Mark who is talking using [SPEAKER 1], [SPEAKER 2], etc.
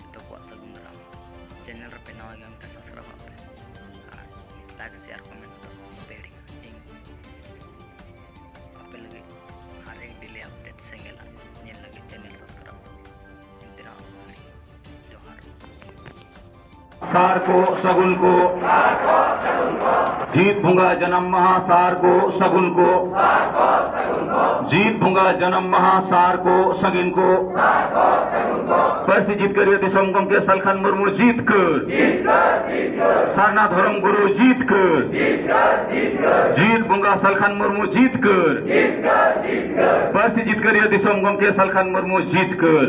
[SPEAKER 1] ᱡᱚᱛᱚ ᱠᱚᱣᱟᱜ ᱥᱟᱹᱜᱩᱱ ᱫᱟᱨᱟᱢ ᱪᱮᱱᱮᱞ ᱨᱮᱯᱮ ᱱᱟᱣᱟ ᱜᱮᱭᱟ ᱢᱮᱱᱠᱷᱟᱱ ᱥᱟᱵᱥᱠᱨᱟᱭᱤᱵᱽ ᱟᱜ ᱯᱮ ᱟᱨ ᱞᱟᱭᱤᱠ ᱥᱮᱭᱟᱨ ᱠᱚᱢᱮᱱᱴ ᱫᱚ ᱵᱟᱯᱮ ᱦᱤᱲᱤᱧᱟ ᱤᱧ ᱟᱯᱮ ᱞᱟᱹᱜᱤᱫ ᱦᱟᱨ ᱮᱠ ᱰᱮᱞᱤ ᱟᱯᱰᱮᱴ ᱥᱮᱸᱜᱮᱞ ᱧᱮᱞ ᱞᱟᱹᱜᱤᱫ ᱪᱮᱱᱮᱞ ᱥᱟᱵᱥᱠᱨᱟᱭᱤᱵᱽ ᱤᱱᱛᱤᱨᱟ ᱡᱚᱦᱟᱨ
[SPEAKER 2] ᱥᱟᱨ ᱠᱚ ᱥᱟᱹᱜᱩᱱ ᱠᱚ ᱡᱤᱛ ᱵᱚᱸᱜᱟ ᱡᱟᱱᱟᱢ ᱢᱟᱦᱟ ᱥᱟᱨ ᱠᱚ ᱥᱟᱹᱜᱩᱱ ᱠᱚ ᱡᱤᱛ ᱵᱚᱸᱜᱟ ᱡᱟᱱᱟᱢ ᱢᱟᱦᱟ ᱥᱟᱨ ᱠᱚ ᱥᱟᱹᱜᱤᱱ ᱠᱚ ᱯᱟᱹᱨᱥᱤ ᱡᱤᱛᱠᱟᱹᱨᱤᱭᱟᱹ ᱫᱤᱥᱚᱢ ᱜᱚᱢᱠᱮ ᱥᱟᱞᱠᱷᱟᱱ ᱢᱩᱨᱢᱩ ᱡᱤᱛ ᱠᱟᱹᱨ ᱥᱟᱨᱱᱟ ᱫᱷᱚᱨᱚᱢ ᱜᱩᱨᱩ ᱡᱤᱛ ᱠᱟᱹᱨ ᱡᱤᱛ ᱵᱚᱸᱜᱟ ᱥᱟᱞᱠᱷᱟᱱ ᱢᱩᱨᱢᱩ ᱡᱤᱛ ᱠᱟᱹᱨ ᱯᱟᱹᱨᱥᱤ ᱡᱤᱛᱠᱟᱹᱨᱤᱭᱟᱹ ᱫᱤᱥᱚᱢ ᱜᱚᱢᱠᱮ ᱥᱟᱞᱠᱷᱟᱱ ᱢᱩᱨᱢᱩ ᱡᱤᱛ ᱠᱟᱹᱨ